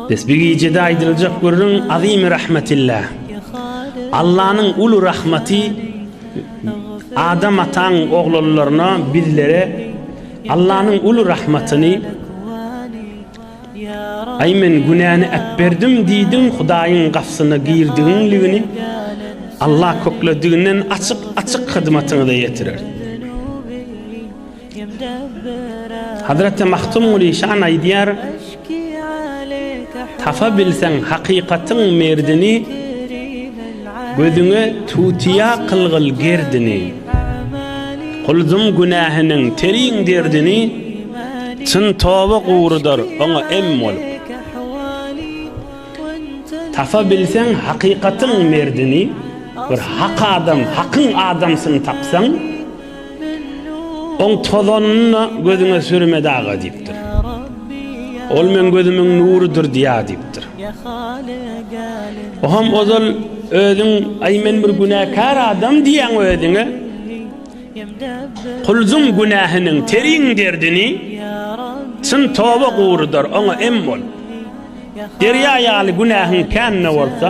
Biz bu gijede aýdyljak gürrüň Azimi rahmetilla. Allanyň uly rahmeti Adam ataň oglanlaryna bizlere Allanyň uly rahmatyny Ay men günäni äpberdim diýdim Hudaýyň gapsyna girdigiňligini Allah köklediginden açyk açyk hyzmatyňyza ýetirer. Hazreti Mahtumguly şan aýdýar, Tapa bilseň hakykatyň merdini, Gözüňe tutýa kylgyl gerdini. Guldum günähiniň terin derdini, Çyn toba gurudar oňa em bolup. Tapa bilseň hakykatyň merdini, Bir hak adam, hakyň adamsyny tapsaň, Oň tozanyny da gözüňe sürme daga diýipdir. Ol meň gözümiň nurydyr diýýär diýipdir. Oňam ozal özüň aý men bir günäkär adam diýýäň özüňe. Kulzuň günähiniň teriň derdini çyn toba gurudar oňa em bol. Derýa ýaly günähiň kän-de bolsa,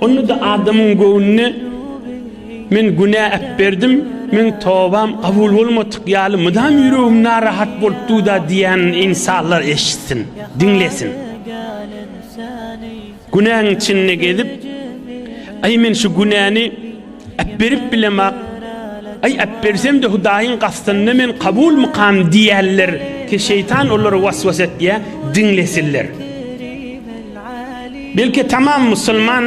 Onda-da adamyň göwnüne Men günä äpberdim, meň tobam kabul bolmadyk ýaly mydam ýüregim narahat bolup dur-da diýýänini ynsanlar eşitsin, diňlesin. Günäň içinde gezip, Aý, men şu günäni äpberip bilemok, aý, äpbersem-de Hudaýyň gastynda men kabulmykam diýýänler, şeýtan olary was-was etýär, diňlesinler. Belki tamam musulman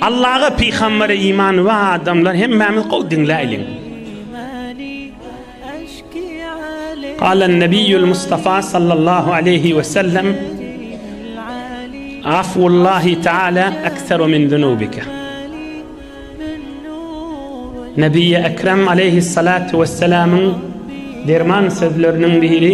Allaha pygambere imany bar adamlar hemmämiz gowy diňläýliň. Galan Nebiýül Mustafa sallallahu aleýhi we sellem Afullahi taala ekseru min zunubika. Nebiýi Ekrem aleyhissalatu vesselamyň derman sözleriniň biri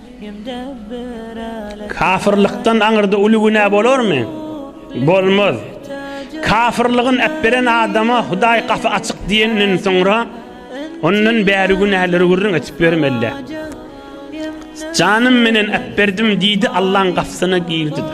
Kafyrlykdan aňyrda uly günä bolarmy? Bolmaz. Kafyrlygyny äpberen adama Hudaý gapy açyk diýenden soňra, ondan bäri günäleri gürrüň edip bermeli-dä. Janym menen äpberdim diýdi, Allaň gapysyna girdi-de.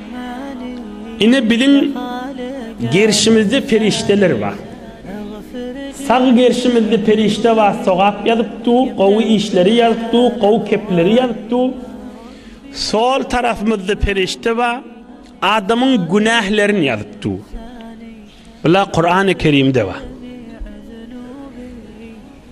Ine biziň gerşimizde perişdeler bar. Sag gerşimizde perişde bar sogap ýazyp dur, gowy işleri ýazyp dur, gowy kepleri ýazyp dur. Sol tarapymyzda perişde bar, adamyň günählerini ýazyp dur. Bular Kurany Kerimde bar.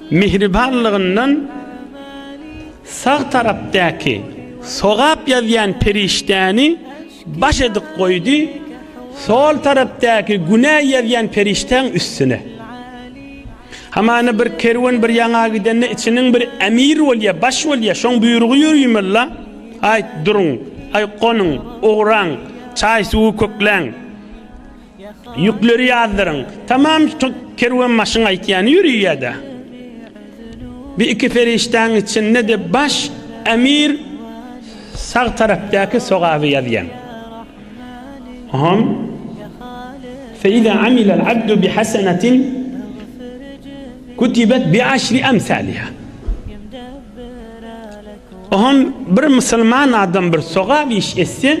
Mähribanlygyndan sag tarapdaky sogap ýazýan perişdäni baş edip goýdy, sol tarapdaky günä ýazýan perişdäň üstüne. Hamana bir kerwen bir ýaňa gidende içiniň bir emir bolýa, baş bolýa, şoň buýrugy ýörüýmella, Aýt, duruň, aý, gonuň, ugraň, çaý-suwy kökläň. Ýükleri ýazdyryň. Tamam kerwenbaşyň aýtýany ýöri ýa-da bi iki perişdäň içinde-de baş emir sag tarapdaky sogaby ýazýaň. Hom Feýza amilal abdu bi hasenetin kutibet bi aşri emsaliha. Hom bir musulman adam bir sogap iş etse,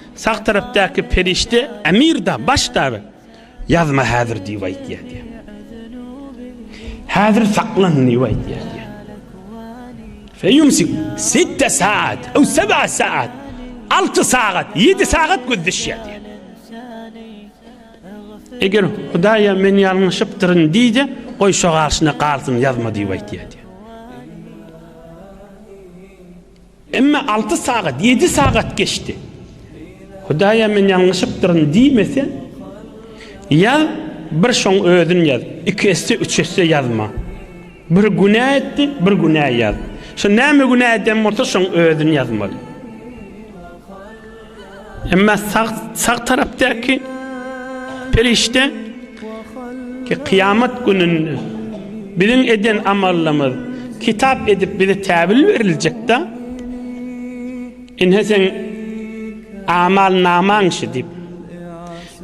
Sag tarapdaky perişde Emir-da, baş dagy, Ýazma häzir diýip aýtýar diýýär. Häzir saklan diýip aýtýar diýýär. Feýumsik sitte saat, ew seb'a saat, alty sagat, ýedi sagat gözleşýär diýýär. Eger Hudaýa men ýalňyşypdyryn diýse, goý şo garşyna galsyn, ýazma diýip aýtýar diýýär. Emma alty sagat, ýedi sagat geçdi. Hudaýa men ýalňyşypdyryn diýmese, ýaz, bir şoň özün ýaz, iki esse, üç esse ýazma. Bir günä etdi, bir günä ýaz. Şo näme günä eden bolsa, şoň özün ýazmaly. Emma sag sag tarapdaky perişde ki kıyamet gününde biziň eden amallymyz kitap edip bize täbil beriljek da ine sen amal naman şu dip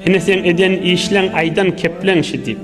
ine sen eden işlen aydan keplen şu dip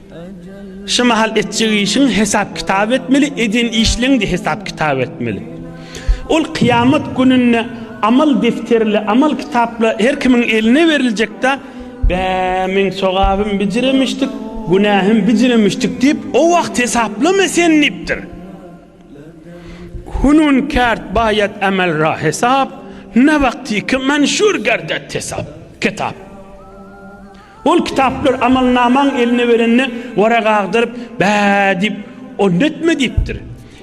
Şu mahal etjek işiň hesap-kitap etmeli, eden işleň-de hesap-kitap etmeli. Ol kyýamat gününde amal defterle, amal kitapla her kimiň eline beriljek-de, Bä, meň sogabym bijiremişdik, günähim bijiremişdik diýip, o wagt hesaplama sen diýipdir. Hunun kärd baýat amel ra hesap, na wagtyky manşur gardat hesap, kitap. Ol kitaplary amalnamaň eline berende Wara gagdyryp, Bä! diýip, Onda etme diýipdir.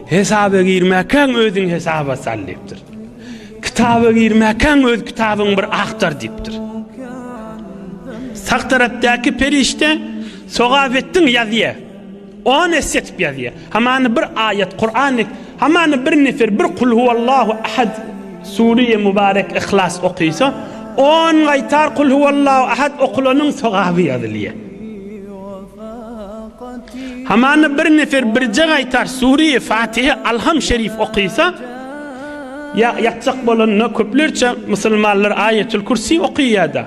Hesaba girmäkäň özüň hesaba sal diýipdir. Kitaba girmäkäň öz kitabyňy bir agtar diýipdir. Sag tarapdaky perişde Sogap etdiň ýazýa. On esse etip ýazýar. Hamany bir aýat, Kuran, hamany bir nefer, bir kul huwallahu ahad, Sure-i Mubarek, Ihlas okysa, on gaýtar kul huwallahu ahad okulanyň sogaby ýazylýar. Hamany bir nefer birje gaýtar Sure-i Fatiha, Alham şerif okysa, ýa ýakjak bolanda köplerçe musulmanlar Aýetül Kürsi okýar-da.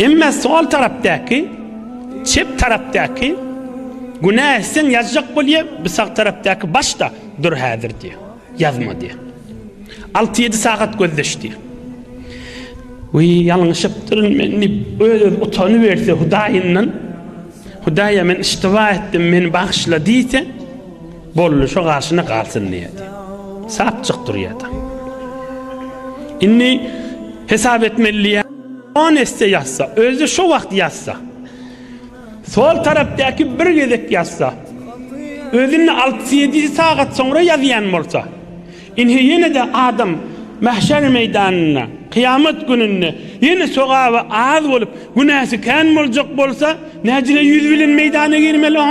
Emma sol tarapdaky, çep tarapdaky, günä etseň ýazjak bolýa, bu sag tarapdaky başda dur häzir diýýär. Ýazma diýýär. Alty-ýedi sagat gözleş diýýär. Wiý, ýalňyşypdyryn men diýip, öz-özüne utanyberse Hudaýyndan, Hudaý-a, men iştiba etdim, meni bagyşla diýse, Boldy şo garşyna galsyn diýýärdi. Sapjyk durýardy. Indi hesap etmeli diýýär. On esse ýazsa, özi şo wagt ýazsa. Sol tarapdaky bir gezek ýazsa. Özünde 6-7 sagat soňra ýazýan bolsa. Indi ýene-de adam mahşer meýdanynda, kyýamat gününde ýene sogaby az bolup, günäsi kän boljak bolsa, näjine ýüz bilen meýdana girmeli o?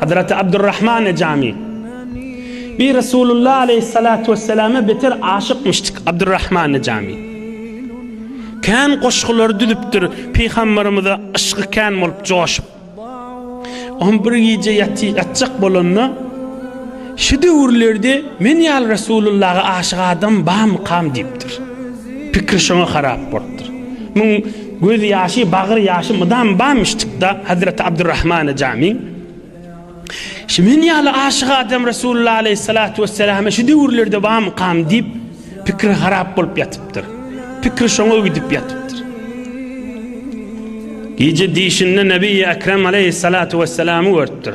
Hazreti Abdurrahman Ejami Bi Resulullah aleyhissalatu vesselame beter aşykmyşdyk Abdurrahman Ejami. Kän goşgulary düzüpdir Pygamberimize yşgy kän bolup joşup. Oň bir gije ýaty ýatjak bolanda şu döwürlerde men ýaly Resulullaha aşyk adam bamy kam diýipdir. Pikri şoňa harap bolupdyr. Muň Göz ýaşy, bagyr ýaşy mydam bamyşdykda Hazreti Abdurrahmana Jami, Şu men ýaly aşyk adam Resulullah aleýhissalatu wesselama şu döwürlerde bamykam diýip, pikri harap bolup ýatypdyr. Pikri şoňa gidip ýatypdyr. Gije dişinde Nebiýi Ekrem aleýhissalatu wesselamy görüpdir.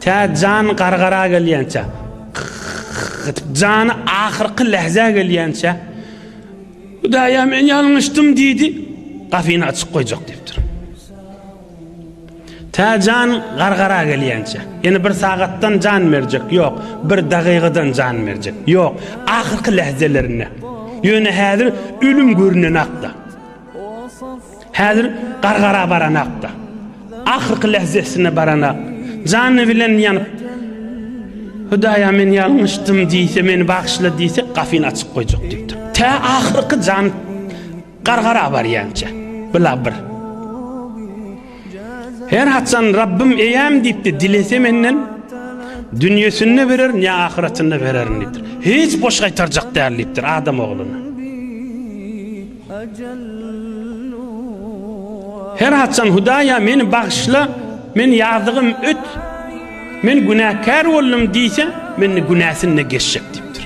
Tä jan gargara gelýänçä, gyt-gyt-gyt-gyt, jany ahyrky lähzä gelýänçä, Hudaý-a, men ýalňyşdym diýdi, gapyny açyk goýjak diýipdir. Tä jan gargara gelýänçä, ýene bir sagatdan jan berjek, ýok, bir dagygadan jan berjek, ýok, ahyrky lähzelerinde. Ýöne häzir ölüm görünenak-da. Häzir gargara baranakda, ahyrky lehzesine baranak, jany bilen ýanyp, Hudaýa men ýalňyşdym diýse, meni bagyşla diýse, gafyny açyp goýjak diýipdir. Tä ahyrky jan gargara barýança, bila bir. Her haçan Rabbim eýäm diýipdi, dilese menden dünýesinde bererin ýa ahyretinde bererin diýipdir. Hiç boş gaýtarjak däl diýipdir adam ogluna. Her haçan Hudaýa meni bagyşla, men ýazygym öt, men günäkär boldum diýse, mende günäsinde geçjek diýipdir.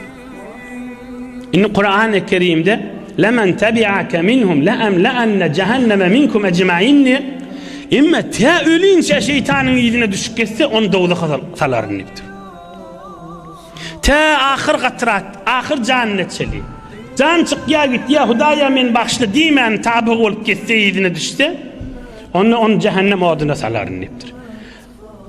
Indi Kurany Kerimde Lemen tebi'ake minhum la emla'anne cehenneme minkum ecmain diýip, Emma tä ölünçä şeýtanyň yzyna düşüp geçse, ony dowzaha salaryn diýipdir. Tä ahyr gatrat, ahyr janyna çeli. Jan çykýa gitýä, Hudaýa meni bagyşla diýmän tabygy bolup gitse, yzyna düşse, onda ony jähennem oduna salaryn diýipdir.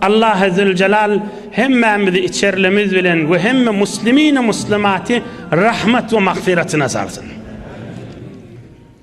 Allahy Züljelal hemmämizi içerlimiz bilen we hemme muslimini muslimaty rahmat we magfyratyna salsyn.